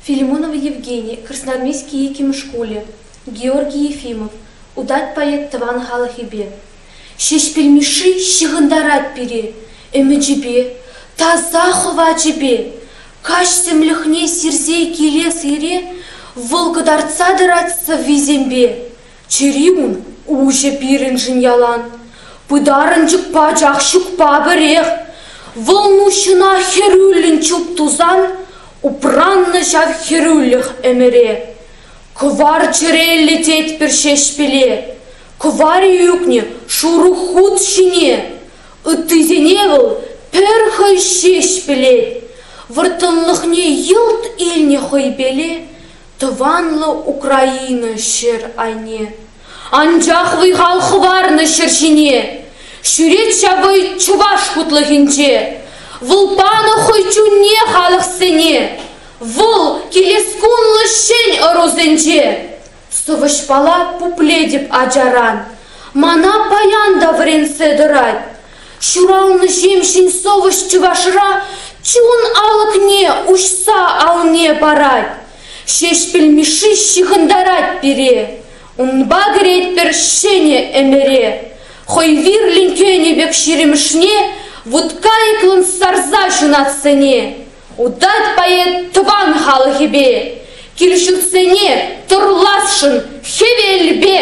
филимонов евгений красноармейски иккӗмӗш шкулӗ георгий ефимов утать поэт тӑван халӑхӗпе ҫеҫпӗл мишши ҫыхӑнтарать пире ӗмӗчӗпе таса хӑвачӗпе каҫ тӗмлӗхне сирсе киле сире вӑл кӑтартса тӑрать сӑввисемпе Чӗрим, уҫӑ пирӗншӗн ялан. Пытарӑнчӑк пачах ҫукпа пӗрех. Вӑлнуҫҫӑна хӗрӳллӗн чуп тусан, Упраннӑ ҫав хӗрӳлӗх ӗмӗре. Кӑвар чӗреллӗ тетпӗр ҫеҫпеле, Кӑвар-и ӳкнӗ шурӑ хут ҫине. Ыттисене вӑл пӗр хӑй ҫеҫ пӗлет. Вӑрттӑнлӑхне йӑлт илнӗ хӑй пеле, Тӑванлӑ Украина ҫӗр айне, Анчах вӑй-хал хӑварнӑ ҫӗр ҫине. Ҫӳрет ҫав вӑй чӑваш хутлӑхӗнче, Вӑл панӑ хӑй чунне халӑхсене, Вӑл килес кунлӑ ҫӗн ӑрусенче. Сӑвӑҫпала пуплетӗп ачаран, Мана паян та вӗрентсе тӑрать. Ҫуралнӑ ҫемҫен совӑҫ чӑвашра чун алӑкне уҫса алне парать. Ҫеҫпӗл Мишши ҫыхӑнтарать пире, Унпа кӗретпӗр ҫӗнӗ ӗмӗре. Хӑй вирлӗн кӗнӗ пек ҫирӗмӗшне Вуткайӑклӑн сарса ҫунат сӗне. Утать поэт тӑван халӑхӗпе, Кил-ҫуртсене тӑрласшӑн хӗвелпе.